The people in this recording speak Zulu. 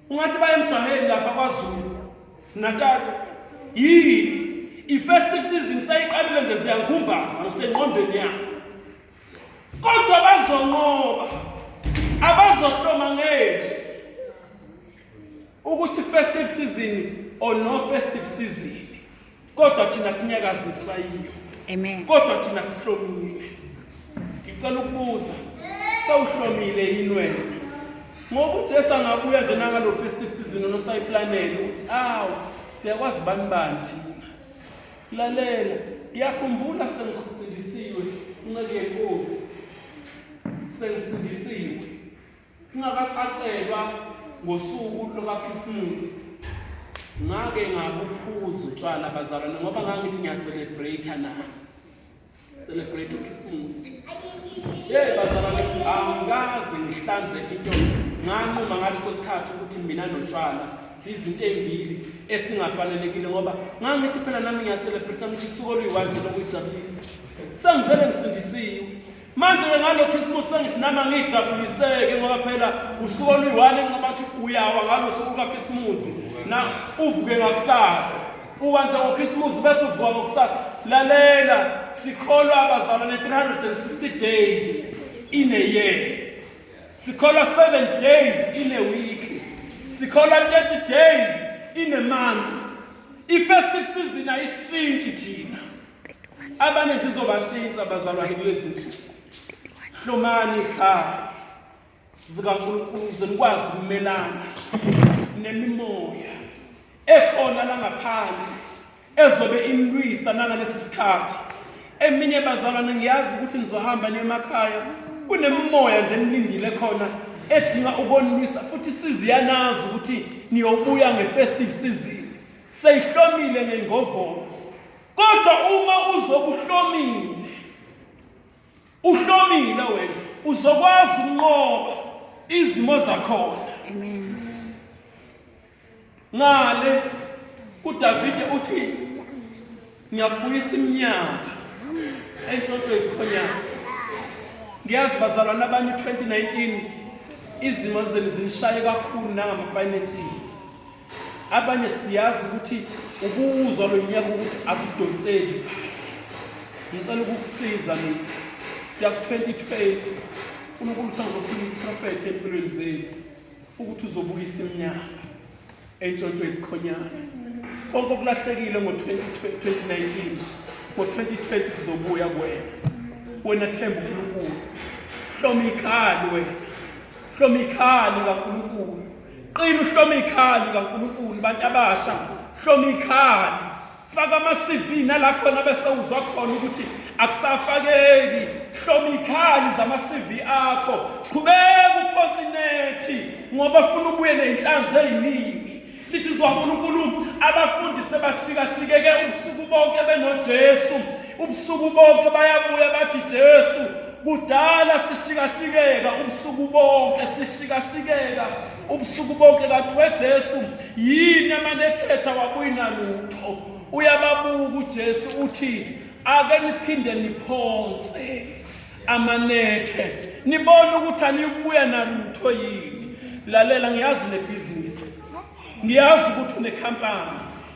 ungathi baye emjaheni lapha kwazulu natal yini i-festive season sayiqalile nje ziyangumbaza ngisengqondweni yabo kodwa bazonqoba abazohloma ngezwi ukuthi festive season or no festive season kodwa thina sinyakaziswa yiyo amen kodwa thina sihlomile ngicela ukubuza sawuhlomile yini wena ngoba uJesu angabuya nje nangalo festive season onosayiplanele ukuthi awu siyakwazi bani bani thina lalela ngiyakhumbula sengikhusilisiwe inceke yenkosi sengisindisiwe Ngingakacacelwa ngosuku lokaKhisimusi ngake ngabuphuza utshwala abazalwane ngoba ngangithi ngiyacelebrate nami celebrate uKhisimusi hey bazalwane angikaze ngihlanze into nganquma ngaleso sikhathi ukuthi mina notshwala siyizinto ezimbili esingafanelekile ngoba ngangithi phela nami ngiyacelebrate ngithi isuku oluyiwanje lokuyijabulisa sengivele ngisindisiwe Manje-ke ngalokho isibusi sengithi nami angijabuliseke ngoba phela usuku oluyi-one enqaba ukuthi uyawa ngalo suku lukakhisimuzi na uvuke ngakusasa uwa nje ngokhisimuzi bese uvuka ngokusasa lalela sikholwa abazalwane 360 days in a year sikholwa 7 days in a week sikholwa 30 days in a month i-festive season ayishintshe thina abaningi zizobashintsha abazalwane kulezi nsuku hlomani ikhaya zikankulunkulu ze nikwazi ukumelana nemimoya ekhona langaphandle ezobe imlwisa nangalesi sikhathi eminye bazalwane ngiyazi ukuthi nizohamba niyemakhaya kunemimoya nje nilindile khona edinga ukonilwisa futhi siziyanazi ukuthi niyobuya nge-festive season seyihlomile ngengovolo kodwa uma uzokuhlomile uhlomile wena uzokwazi ukunqoba izimo zakhona amen ngale uDavide uthi ngiyakubuyisa iminyaka entshontsho yesikhonyana ngiyazi bazalwana abanye 2019 izimo zenu zinishaye kakhulu nangama finances abanye siyazi ukuthi ukuwuzwa lo nyaka ukuthi akudonseki ngicela ukukusiza mina siya ku-2020 unkulunkulu uthi angizokhuluma isiprofethe empilweni zenu ukuthi uzobuyisa iminyaka entshontsho isikhonyana konke okulahlekile ngo-2019 ngo-2020 kuzobuya kwena wena themba unkulunkulu hloma ikhali wena hloma ikhali kankulunkulu qina uhlome ikhaya likaNkulunkulu bantu abasha hloma ikhaya faka ama-cv nala khona bese uzwa khona ukuthi akusafakeki hloma ikhali zama-cv akho qhubeka uphonsa inethi ngoba funa ubuye ney'nhlanzi ey'ningi lithi zwa nkulunkulu abafundi sebashikashikeke ubusuku bonke benojesu Ubusuku bonke bayabuya bathi Jesu kudala sishikashikeka ubusuku bonke sishikashikeka ubusuku bonke kanti weJesu yini amanethetha wabuyina lutho uyababuka uJesu uthi ake niphinde niphonse amanethe nibone ukuthi aniyukubuya nalutho yini lalela ngiyazi unebhizinisi ngiyazi ukuthi unekhampani